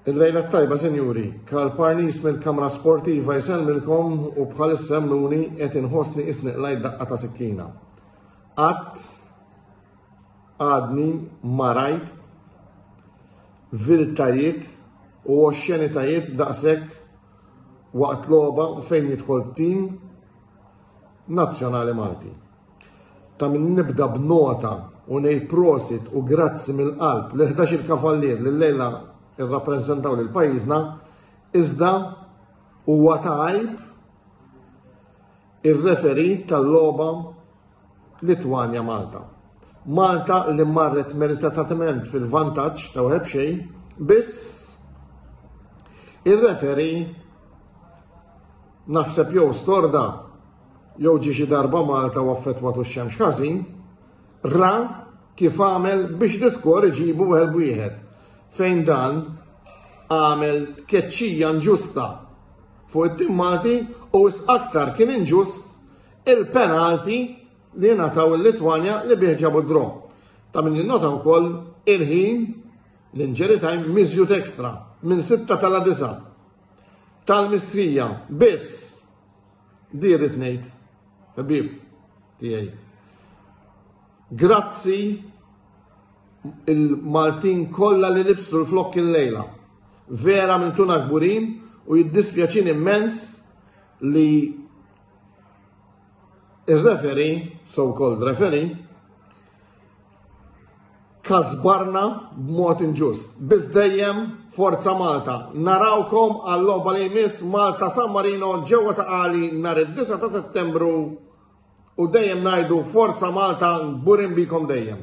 Il-lejla tajba, sinjuri, Karl Parnis mill-Kamra Sportiva jisellmilkom u bħal semmuni qed inħossni isniq lajt daqqa ta' sikkina. Qatt għadni marajt viltajiet u oxxenitajiet daqshekk waqt logħba fejn jidħol tim nazzjonali Malti. Ta' min nibda b'nota u ngħid prosit u grazzi mill-qalb li 11 il-kavallier li lejla irrappreżentaw lil pajjiżna, iżda huwa ta' għajb ir-referi tal-logħba Litwanja Malta. Malta li marret meritatament fil-vantaġġ ta' wieħed xejn, biss ir-referi naħseb jew storda jew ġie xi darba Malta u affettwatu x-xemx ħażin, ra kif għamel biex l-iskor iġibu wieħed wieħed fejn dan għamel tkeċċija nġusta fuq it-tim Malti u aktar kien inġust il-penalti li nataw il-Litwanja li bieħġabu d-dro. Ta' minn jinnota u koll il-ħin l-inġeri tajm mizjut ekstra minn 6 tal-9 tal-mistrija biss Di rrid ngħid, ħabib tiegħi. Grazzi il-Maltin kollha li libsu l-flokk il-lejla. Vera minn tuna kburin u jiddispjaċin immens li il-referi, so-called referi, kasbarna b'mod inġust. Biz dejjem Forza Malta. Narawkom għall-logħba li jmiss Malta San Marino ġewwa ta' għali nhar id-9 ta' Settembru u dejjem ngħidu Forza Malta burin bikom dejjem.